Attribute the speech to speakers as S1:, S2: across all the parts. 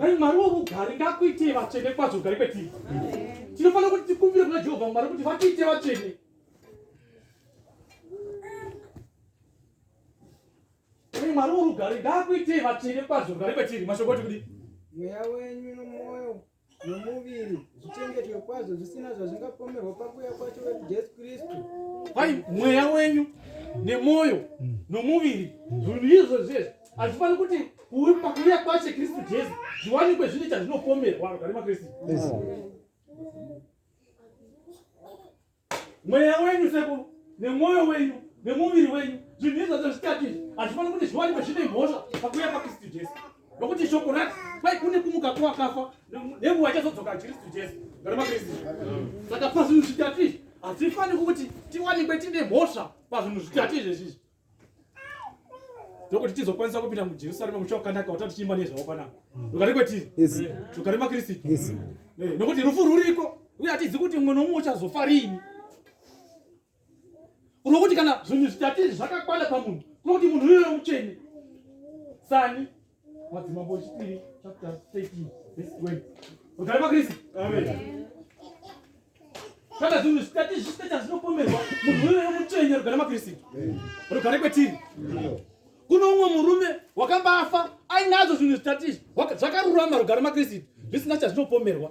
S1: Ai mwari wokugari
S2: ngakuitei vatsvene kwazvo kugari kwetiri tinofanira kuti tikumbire kuna jehovha mwari kuti vatiite vatsvene ai mwari worugari ngakuitei vatsvene kwazvo kugari kwetiri mashoko kuti kudii mweya wenyu
S1: nomwoyo nomuviri zvichengetwe kwazvo zvisina zvazvingapomerwa pakuya kwacho vedu jesu kristu kwai
S2: mweya wenyu nemwoyo mm. nomuviri zvinhu izvo zvese hazvifaniri kuti pakuya kwacho kristu jesu zviwanikwe zvine chazvinopomerwa vagari makristu mweya wenyu sekuru nemwoyo wenyu nemuviri wenyu zvinhu izvi zvacho zvitatu izvi hazvifaniri kuti zviwanikwe zvine mhosva pakuuya pakristu jesu nokuti shoko rati kwai kune kumuka kwakafa nenguva ichazodzoka kristu jesu ngaramakristu saka pazvinhu zvitatu izvi hazvifaniri kuti tiwanikwe tine mhosva pazvinhu zvitatu izvezvizvi ndokuti tizokwanisa kupinda mujerusarema mucha wakanaka watati tichiimba nezvavo panapa rugare kwetiri rugare makristu nokuti rufu ruriko uye hatizi kuti mumwe nomumwe uchazofa riini unokuti kana zvinhu zvitatiri zvakakwana pamunhu unokuti munhu uyoyo mutsvene sani Madzimambo echipiri chapter 13 verse 20. Mugare maKristu. Amen. Kana zvinhu zvikati zvichitaita zvinopomerwa munhu uyoyo mutsvenya rugare maKristu. Rugare kwetiri. Kune umwe murume wakambafa ainazo zvinhu zvitatu izvi zvakarurama rugare maKristu zvisina chazvinopomerwa.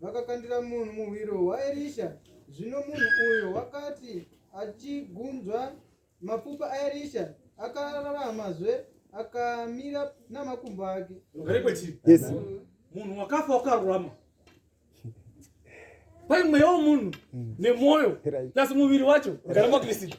S1: vakakandira munhu muhwiro waErisha. Zvino munhu uyo wakati achigunzva mapfupa aErisha, akararamazve akamira namakumbo ake. Ugare kwechii? Yes.
S2: Munhu
S3: wakafa
S2: wakarurama. Kwai mweya womunhu nemwoyo Right. plus muviri wacho rugare mwaKristu.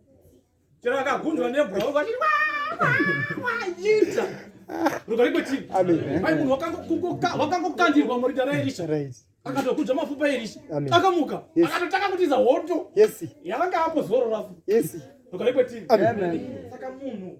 S2: wakangokandirwa murinda raerisha akatokudza
S3: mafupa
S2: erisha akamuka
S3: akatotanga
S2: kutiza
S3: hoto
S2: yavanga
S3: apo zororafo
S2: rukarikwetivi saka
S3: munhu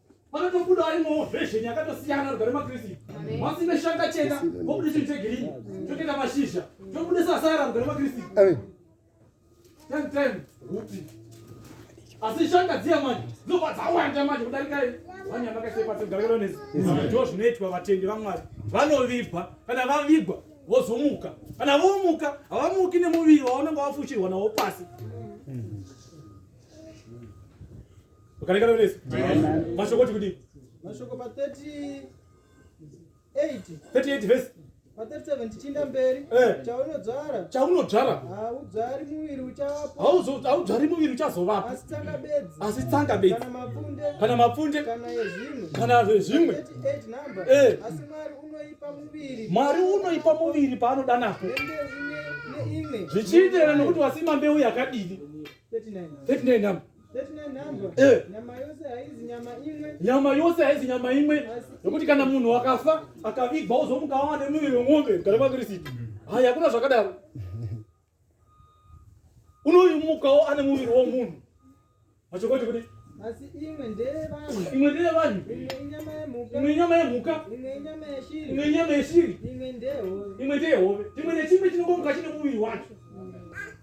S2: panotobuda arimowo vhezheni yakatosiyana rugare makristu masi neshanga chena vobuda chinhu chegirini chotoita mashizha chobuda sasara rugare makristu ten ten hupi asi shanga dziya manje dzinobva dzawanda manje kudarika vanyama kaisepatogararonesi ndo zvinoitwa vatendi vamwari vanovigwa kana vavigwa vozomuka kana vomuka havamuki nemuviri waunenge wafushirwa nawo pasi Ukarekana unesi. Mashoko kuti kuti. Mashoko
S1: pa
S2: 38. 38 verse. Pa 37
S1: tichinda mberi. Eh. Chaunodzvara. Chaunodzvara. Haudzvari muviri uchawapo. Hauzo haudzvari muviri
S2: uchazovapo. Asi tsanga bedzi. Asi tsanga bedzi. Kana mapfunde. Kana mapfunde. Kana yezvimwe. Kana zvezvimwe. 38 number.
S1: Eh. Asi Mwari unoipa muviri. Mwari unoipa muviri paanoda napo. Zvichienderana
S2: nekuti wasima mbeu yakadini. 39 number. Eh. nyama yose haizi nyama imwe yokuti kana munhu akafa akavigwa ozomuka awa nemuviri wemombe mugare makristu hai hakuna zvakadaro unomukawo ane muviri womunhu machokoti kuti
S1: imwe ndeyevanhu
S2: imwe inyama yemhuka imwe inyama yeshiri imwe ndeyehove chimwe nechimwe chinongomuka chine muviri wacho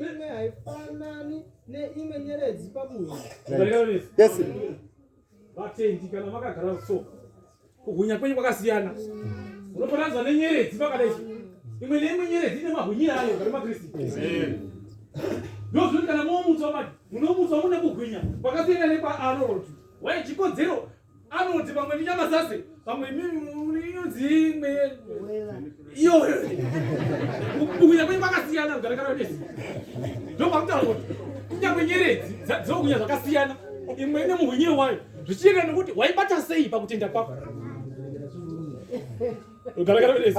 S1: imwe haifanani neimwe nyeredzi pamunhu
S2: vatendi kana makagara so kuhunya kwenyu kwakasiyana unofananidzwa nenyeredzi pakadai imwe neimwe nyeredzi ine mahunyira ayo gari makristu ndozvoti kana momutswa mati munomutswa mune kuhwinya kwakasiyana nekwaaroroti waye chikodzero anoti pamwe ndinyama sase pamwe inonziimwe iyoyo kubukunya kwenyu kwakasiyana kugarakana nesi ndopakutaura kuti kunyangwe nyeredzi dzinokunya zvakasiyana imwe ine muhunyire wayo zvichienda nekuti waibata sei pakutenda kwako ugarakana nesi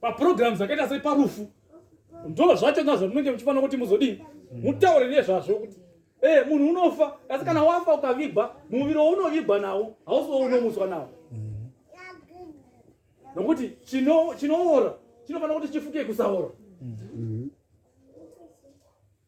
S2: paprograms akaita sei parufu ndo zvatenda zvamunenge muchifanira kuti muzodii mutaure nezvazvo kuti e munhu unofa asi kana wafa ukavigwa muviri waunovigwa nawo hausi waunomuswa nawo nokuti chinoora chinofanira kuti chifuke kusaora mm-hmm.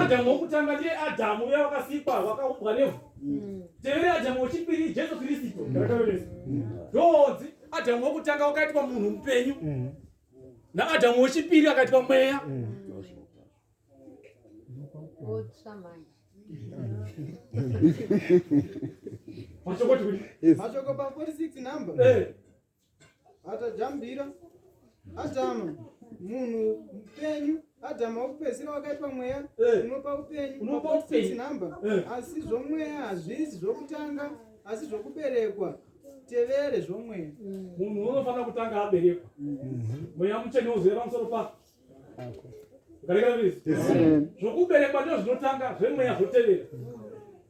S2: adamu wokutanga ndiye adamu uya wakasikwa wakaumbwa nevhu mm. tevere adamu wechipiri jesu kristu ndonzi adamu wokutanga wakaitwa munhu mupenyu mm. naadamu wechipiri akaitwa mweya mm.
S1: mashoko 46 number eh. atajambira adhama munhu mupenyu adhama wekupedzisira wakaitwa mweya eh. unopa upenyu unopa upenyu number eh. asi zvomweya hazvisi zvokutanga asi zvokuberekwa tevere zvomweya mm. munhu unofanira
S2: kutanga aberekwa mm-hmm. mweya mutsvene uzive pamusoro pako ukarekera visi zvokuberekwa ndo zvinotanga zvemweya zvotevera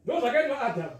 S2: ndo zvakaitwa adhama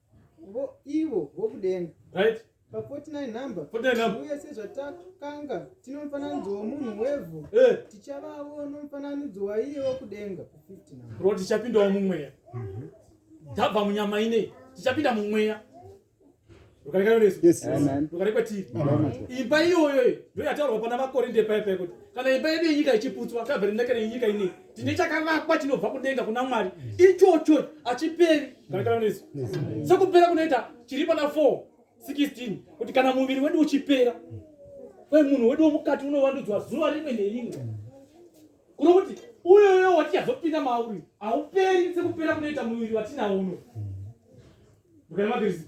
S1: vo ivo vokudenga right
S2: pa 49
S1: number 49 number uye sezvatakanga tino mufananidzo womunhu wevhu eh tichavawo nomufananidzo waiye wokudenga pa 50 number ro tichapindawo mumweya
S2: mhm. tabva munyama inei tichapinda mumweya rugare
S3: kwatiri
S2: imba iyoyo ndoyataurwa pana makorinde paya paya kuti kana imba yedu yenyika ichiputswa tabva rinakana yenyika inei tine chakavakwa chinobva kudenga kuna mwari ichocho achiperi garakaraniso sekupera kunoita chiri pana 4 16 kuti kana muviri wedu uchipera kwe munhu wedu wemukati unovandudzwa zuva rimwe nerimwe kuno kuti uyoyo watichazopinda mauri hauperi sekupera kunoita muviri watina uno ndokana makirisi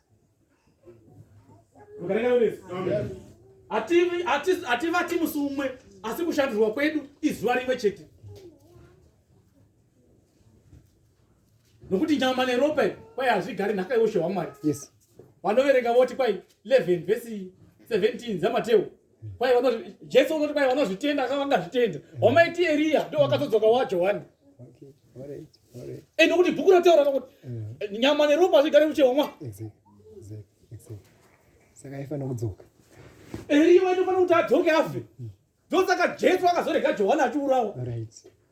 S2: hativati musi umwe asi kushandirwa kwedu izuva rimwe chete nokuti nyama neropa kwai hazvigari nhaka yeushe hwamwari
S3: vanoverenga voti
S2: kwai 11 vhesi 17 dzamateu kwai vanozvi jesu unoti kwai vanozvitenda ka vangazvitenda wamaiti eriya ndo wakazodzoka wajohani
S3: ende kuti bhuku rataura
S2: kakuti mm. nyama neropa hazvigare kuchehomwa
S3: saka aifanira kudzoka eriya
S2: waitofanira kuti adzoke afe mm. ndosaka jesu akazorega johani achiurawa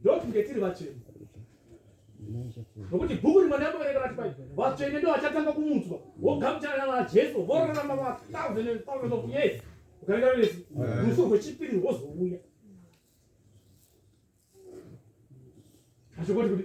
S2: ndokunge tiri vatsvene nokuti bhuku rimwe ndamboverenga vati pai vatsvene ndo vachatanga kumutswa wogamuchana najesu vorarama mathousand and thousand of years ukarenga vese rufu rwechipiri rwozouya achokoti kuti